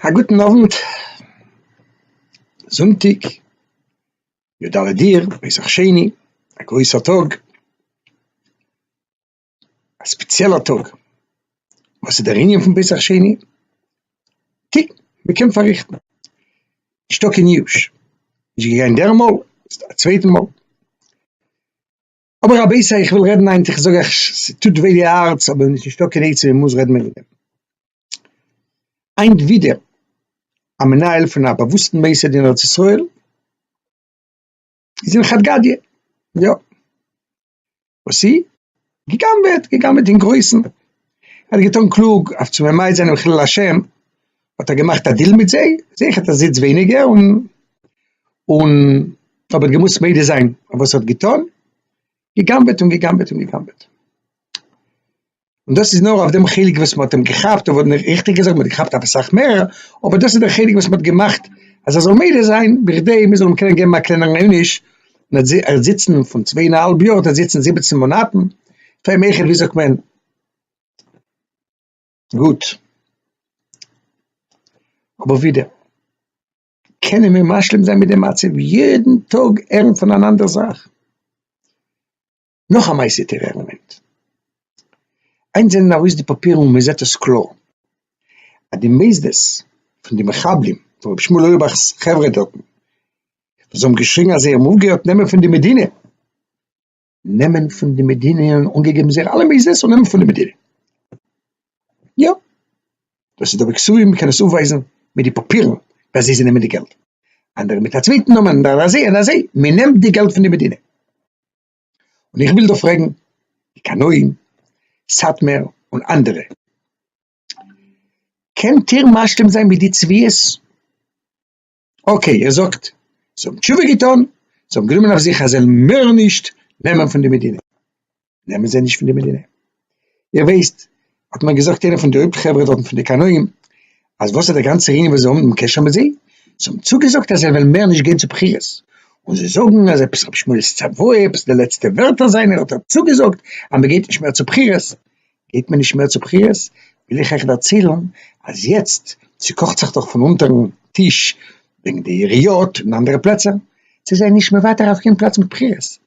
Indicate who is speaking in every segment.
Speaker 1: א גוטן אוונט, זונטאג יו ד אדיר, פסח שני, א גרויסע טאג, א ספעציעלע טאג, וואס איז דער ענין פון פסח שני? טי, מען קען פארריכטן, נישטא קיין יאוש, נישט געגאנגען דער מאל, א צווייטע מאל. אבער רבותי איך וויל רעדן היינט איך זאג אייך ס'טוט וויי די הארץ אבער עס איז נישטא קיין עצה מ'מוז רעדן וועגן דעם. היינט ווידער א מנהל פון א באוואוסטן מוסד אין ארץ ישראל איז אין חד גדיא, יא וואס איז? גע'גנב'עט, גע'גנב'עט אין גרויסן, ער האט געטון קלוג אויף צו ממעט זיין אין חילול השם האט ער געמאכט א דיל מיט זיי, זיי האט ער זיץ ווייניגער און און האב איך געמוזט מודה זיין אויף וואס האט געטון, געגנבעט און געגנבעט און געגנבעט. און דאס איז נאר אויף דעם חלק וואס מ'האט אים געכאפט, אבער ריכטיג געזאגט מ'האט געכאפט אויף אסאך מערער, אבער דאס איז דער חלק וואס מ'האט געמאכט אז ער זאל מודה זיין בכדי מ'זאל אים קענען געבן א קלענערן עונש, און ער האט זיצן פון צוויי און א האלב יאר האט ער זיצן זיבעצן מאנאטן, פאר אים אויכעט ווי זאגט מען. גוט, אבער ווידער קענען מיר משלים זיין מיט די מצב, יעדן טאג הערן פון אן אנדער זאך, נאך א מעשה טעראר עלעמענט, היינט זענען ארויס די פאפירן און מען זעט עס קלאר, אז די מוסדות פון די מחבלים, פון רבי שמואל אויערבאך'ס חברה דארטן, וואס האבן געשריגן אז זיי האבן אויפגעהערט נעמען פון די מדינה, נעמען פון די מדינה און אנגעגעבן זייער אלע מעיזעס און נעמען פון די מדינה. יא. דאס איז דא בקסויים, מען קען עס אויפווייזן מיט די פאפירן ווען זיי זיי נעמען די געלט. אנדערע מיט א צווייטן נאמען און אזוי און אזוי, מען נעמט די געלט פון די מדינה. און איך וויל דא פרעגן די קנאים, סאטמער און אנדערע, קענט איר משלים זיין מיט די צביעות? אקעי ער זאגט זיי האבן תשובה געטון, זיי האבן גענומען אויף זיך אז זיי וועלן מער נישט נעמען פון די מדינה, נעמען זיי נישט פון די מדינה, איר ווייסט האט מיר געזאגט איינער פון די הויפט חברה דארטן פון די קנאים אז וואס איז די גאנצע ענין וואס זיי האבן דעם קשר מיט זיי, זיי האבן צוגעזאגט אז זיי וועלן מער נישט גיין צו בחירות, און זיי זאגן אז עפעס רבי שמואל'ס צוואה, עפעס די לעצטע ווערטער זיינע האט ער צוגעזאגט אז מען גייט נישט מער צו בחירות, געט מען נישט מער צו בחירות, וויל איך אייך דערציילן אז יעצט ס'קאכט זיך דאך פון אונטערן טיש וועגן די עיריות און אנדערע פלעצער, זיי זענען נישט מוותר אויף קיין פלאץ מיט בחירות,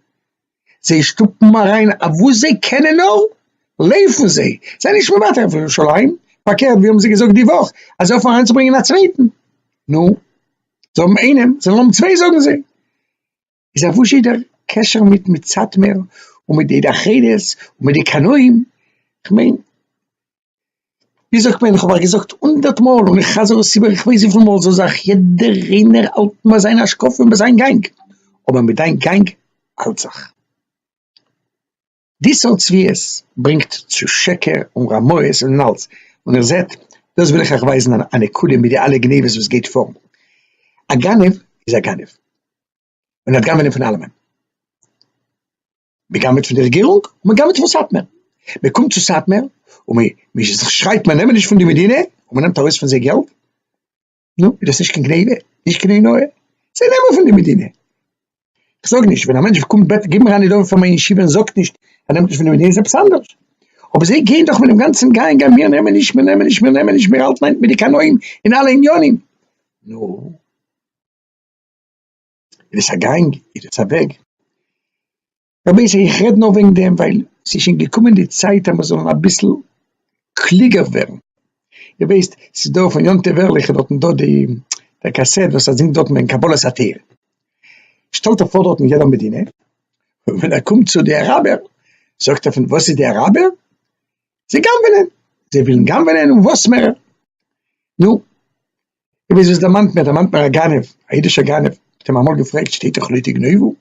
Speaker 1: זיי שטופן אריין אויף וואס זיי קענען נאר, לויפן זיי, זיי נישט מוותר אויף ירושלים, פארקערט ווי האבן זיי געזאגט די וואך אז זיי האפן אריינצוברענגען א צווייטן, נו, זיי האבן איינעם, זיי האבן צוויי זאגן זיי. איז א וואזשע דער קשר מיט מיט סאטמער און מיט די דחעדעס און מיט די קנאים, כ'מיין ווי זאגט מען כ'האב אייך געזאגט הונדערט מאל און איך חזר עס איבער איך ווייס וויפיל מאל זאל זיך יעדער איינער האלטן ביי זיין השקפה און ביי זיין גאנג אבער מיט דיין גאנג האלט זיך. די סארט צביעות ברענגט צו שקר און רמאות און אלס, און איר זעט דאס וויל איך אייך ווייזן א נקודה מיט די אלע גניבות וואס גייט פאר, א גנב איז א גנב און ער האט גנבענען פון אלעמען, מען גנבעט פון די רעגירונג און מען גנבעט פון סאטמער, מען קומט צו סאטמער און מען שרייט מיר נעמען נישט פון די מדינה און מען נעמט ארויס פון זיי געלט, נו, איז דאס נישט קיין גניבה? נישט קיין עינויי? זיי נעמען פון די מדינה. איך זאג נישט, ווען א מענטש קומט בעטן גיב מיר א נדבה פאר מיין ישיבה און זאגט נישט ער נעמט נישט פון די מדינה איז עפעס אנדערש. אבער זיי גייען דאך מיט דעם גאנצן גיין גיין מיר נעמען נישט, מיר נעמען נישט, מיר נעמען נישט, מיר האלטן איין מיט די קנאים אין אלע עניינים. נו, איז דאס א גאנג? איז דאס א וועג? רבותי איך רעד נאר וועגן דעם ווייל ס'איז שוין געקומען די צייט אז מיר זאלן אביסל קלוגער ווערן, איר ווייסט ס'איז דא פון יום טוב ערליך איז דארטן דא די דער קאסעט וואס ער זינגט דארטן וועגן קבלת התורה, שטעלט ער פאר דארטן יעדער מדינה, און ווען ער קומט צו די אראבער זאגט ער פון וואס איז די אראבער? זיי גנב'נען, זיי ווילן גנב'נען און וואס מער, נו, איר ווייסט וואס דערמאנט מיר? דערמאנט מיר א גנב, א אידישער גנב, מ'האט אים אמאל געפרעגט שטייט דאך לא תגנובו,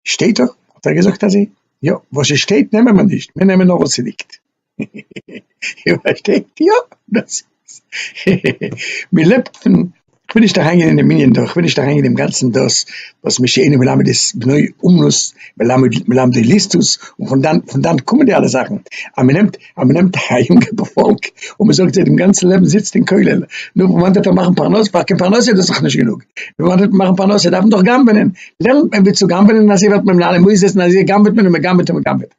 Speaker 1: שטייט דאך האט ער געזאגט אז יא וואס עס שטייט נעמען מיר נישט מיר נעמען נאר וואס עס ליגט איר פארשטייט יא דאס מען לעבט פון כ'וויל נישט אריין גיין אינעם ענין דא כ'וויל נישט אריין גיין אינעם גאנצן דאס וואס מי שאינו מלמד את בנו אומנות מלמדו ליסטות און פון דאן קומען די אלע זאכן אז מען נעמט אז מען נעמט א יונגע פארפאלק און מען זאגט זיי דעם גאנצן לעבן זיצט אין כולל, נו וואנעט וועט ער מאכן פרנסה, פאר קיין פרנסה איז דאס דאך נישט גענוג, וואנעט וועט מען מאכן פרנסה, דארף מען דאך גנב'ענען, לערנט מען ווי צו גנב'ענען אזוי ווערט מען מנהל, מוז עסן אזוי גנב'עט מען און מען גנב'עט און מען גנב'עט.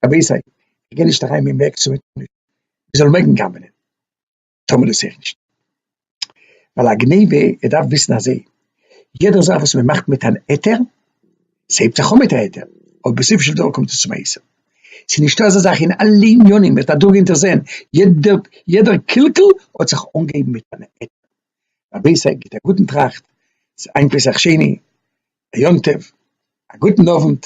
Speaker 1: רבי איסר, איך גיי נישט אריין אין וועג צו מען טאר נישט, מען זאל מעגן גנב'ענען. טאמער איז איך נישט. ווייל א גניבה, ער דארף וויסן אזוי, יעדער זאך וואס מען מאכט מיט אן היתר, ס'הייבט זיך אן מיט א היתר, אבער בסופו של דבר קומט עס צום איסור. ס'איז נישטא אזא זאך אין אלע עניינים, מען האט אדורך גענטער זעהן, יעדע יעדע קלקול האט זיך אנגעהויבן מיט אן היתר. רבותי גיבט א גוטן טראכט, ס'איז היינט פסח שני, א יום טוב, א גוטן אווענט.